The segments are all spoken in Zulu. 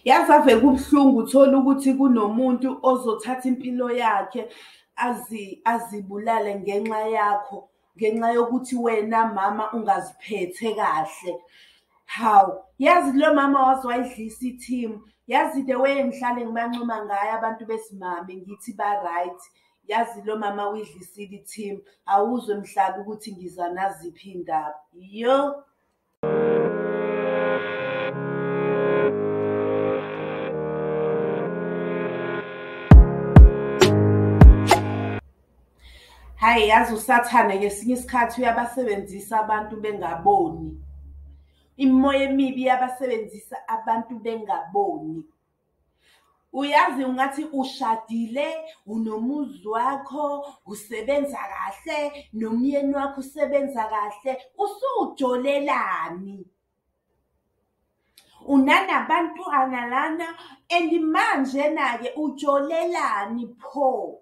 yazi ave kubuhlungu uthole ukuthi kunomuntu ozothatha impilo yakhe azibulale ngenxa yakho ngenxa yokuthi wena mama ungaziphethe kahle hawu yazi kulo mama waze wayidlisa i-team yazi the way engihlale ngibancoma ngayo abantu besimame ngithi ba-right yazi lo mama uyidlisile i-team awuzwe mhlaba ukuthi ngiza naziphi iy'ndaba yo hayi yazi usathane ngesinye isikhathi uyabasebenzisa abantu bengaboni imimoya emibi iyabasebenzisa abantu bengaboni uyazi ungathi ushadile unomuzi wakho usebenza kahle nomyeni wakho usebenza kahle usujolelani unanabantwana lana and manje na-ke ujolelani pho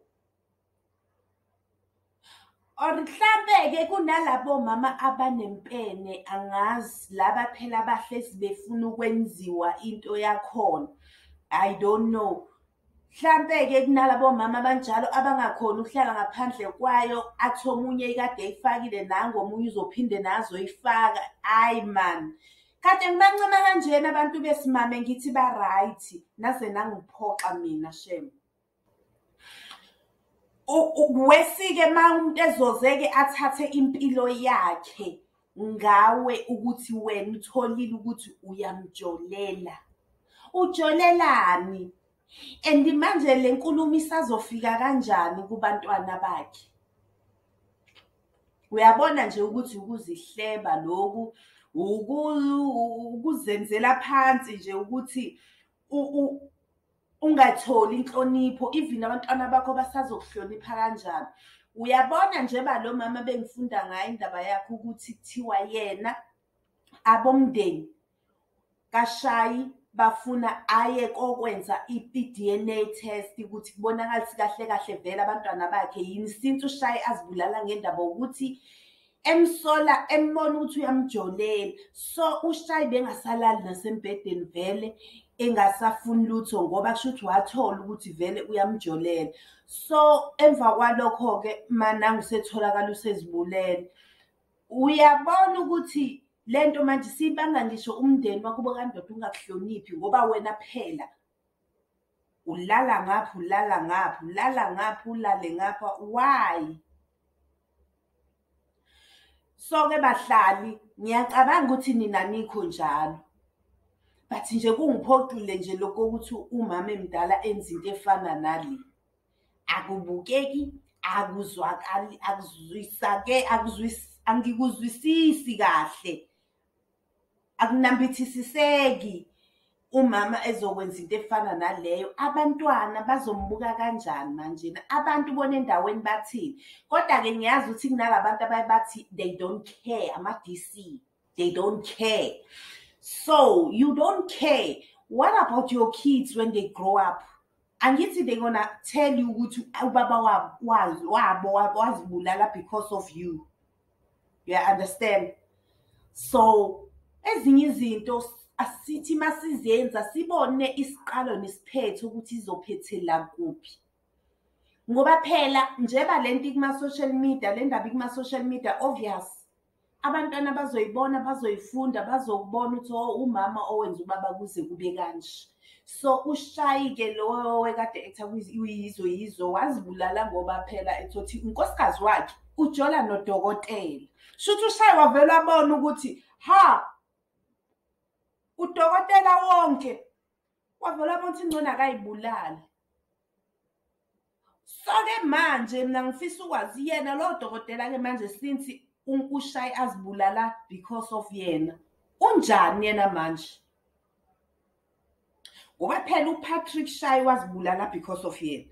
Or mhlampe-ke kunalabo mama abanempene angazi laba phela abahlezi befuna ukwenziwa into yakhona. I don't know. Mhlampe-ke kunalabo mama abanjalo abangakhoni ukuhlala ngaphandle kwayo athi omunye ikade eyifakile nangu omunye uzophinde nazo ifaka. Ayi man. Kade ngibancoma kanjena abantu besimame ngithi ba-right naze nangiphoxa mina shame. Wesike uma umuntu ezozeke athathe impilo yakhe ngawe ukuthi wena utholile ukuthi uyamjolela. Ujolelani? And manje le nkulumo isazofika kanjani kubantwana bakhe? Uyabona nje ukuthi ukuzihleba loku ukuzenzela phansi nje ukuthi ungatholi inhlonipho even abantwana bakho basazokuhlonipha kanjani uyabona njengoba lo mama bengifunda ngayo indaba yakhe ukuthi kuthiwa yena abomndeni kashayi bafuna aye kokwenza i-DNA test ukuthi kubonakala ukuthi kahle kahle vele abantwana bakhe yini since ushaye azibulala ngendaba ukuthi emsola embona ukuthi uyamjolela so ushayi bengasalali nasembhedeni vele engasafuni lutho ngoba kusho ukuthi wathola ukuthi vele uyamjolela so emva kwalokho-ke manangu setholakala usezibulele uyabona ukuthi le nto manje siyibanga ngisho umndeni wakubo kandoda ungakuhloniphi ngoba wena phela ulala ngapha ulala ngapha ulala ngapha ulale ngapha why soke bahlali ngiyacabanga ukuthi nina nikho njalo but nje kungiphoxile nje lokho ukuthi umama emdala enza into efana nale akubukeki akuzwakali akuzwisake akuzwis angikuzwisisi kahle akunambithisiseki umama ezokwenza into efana naleyo abantwana bazombuka kanjani manjena abantu bona endaweni bathini kodwa-ke ngiyazi ukuthi kunala bantu abaye bathi they don't care ama-d c they don't care so you don't care what about your kids when they grow up angithi they gonna tell you ukuthi ubaba wabo wabo wazibulala because of you you understand so ezinye izinto asithi masizenza sibone isiqalo nesiphetho ukuthi izophethela kuphi ngoba phela njeba lento ikuma social media le ndaba ikuma social media obvious abantwana bazoyibona bazoyifunda bazokubona ukuthi oh, umama owenza ubaba kuze kube kanje so ushayike lowo wekade ekutha uyizo yizo wazibulala ngoba phela ethothi unkosikazi wakhe ujola nodokotela shuthi ushaye wavele wabona ukuthi ha udokotela wonke wavele wabona ukuthi ingcona akayibulali soke manje mina ngifisa ukwazi yena lowo dokotela-ke manje since ushaye azibulala because of yena unjani yena manje ngoba phela upatrick shaye wazibulala because of yena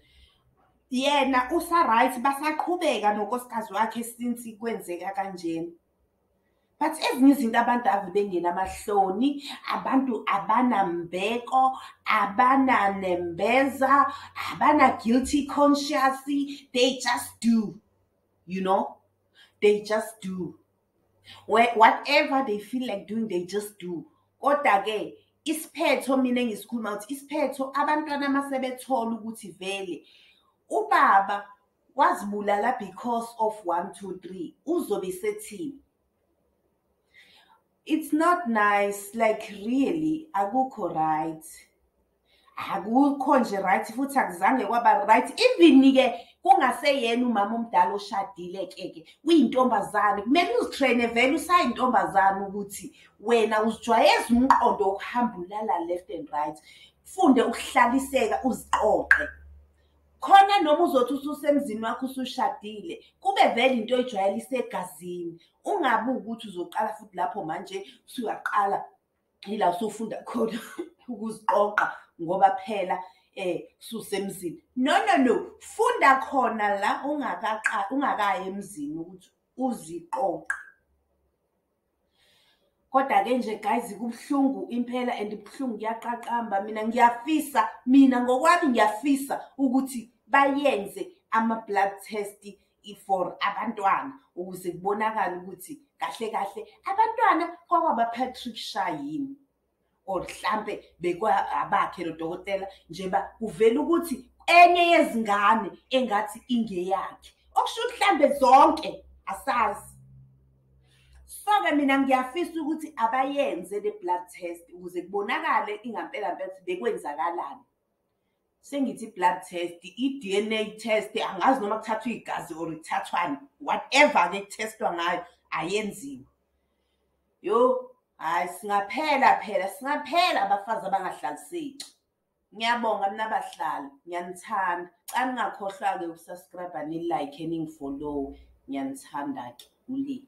yena usa-right basaqhubeka nonkosikazi wakhe since kwenzeka kanjena but ezinye izinto abantu ave bengenamahloni abantu abanambeko abananembeza abana-guilty conscious they just do you know they just do whatever they feel like doing they just do kodwa-ke isiphetho mina engisikhuluma ukuthi isiphetho abantwana uma sebethola ukuthi vele ubaba wazibulala because of one two three uzobe sethini it's not nice like really akukho right akukho nje right futhi akuzange kwaba right even-ke kungaseyena umama omdala oshadile keke uyintombazane kumele uzitrene vele usayintombazane ukuthi wena uzijwayeza umqondo wokuhamba ulala left and right funde ukuhlaliseka uziqoqe khona noma uzothi ususemzini wakho usushadile kube vele into oyijwayele isegazini ungabi ukuthi uzoqala futhi lapho manje usuyaqala yila usufunda khona ukuziqoqa ngoba phela eh susemzini no no no funda khona la ungakaqali ungakayi emzini ukuthi uziqoqa kodwa ke nje guys kubuhlungu impela and kubuhlungu kuyaqaqamba mina ngiyafisa mina ngokwami ngiyafisa ukuthi bayenze ama blood test for abantwana ukuze kubonakala ukuthi kahle kahle abantwana kwakwaba Patrick Sha yini or mhlampe bekwabakhe lo dokotela njeba kuvela ukuthi enye yezingane engathi ingeyakhe okusho ukuthi mhlambe zonke asazi soke mina ngiyafisa ukuthi abayenze le blood test ukuze kubonakale ingampela mpela ukuthi bekwenzakalani sengithi i-blood test i-dna test angazi noma kuthathwa igazi or kuthathwani whatever-ke kuthestwa ngayo ayenziwe yo hhayi singaphela phela singaphela abafazi abangahlaliseki ngiyabonga mina abahlali ngiyanithanda xa ningakhohlwa-ke ukusubscribe nilike ningifollowe ngiyanithanda-ke ulimi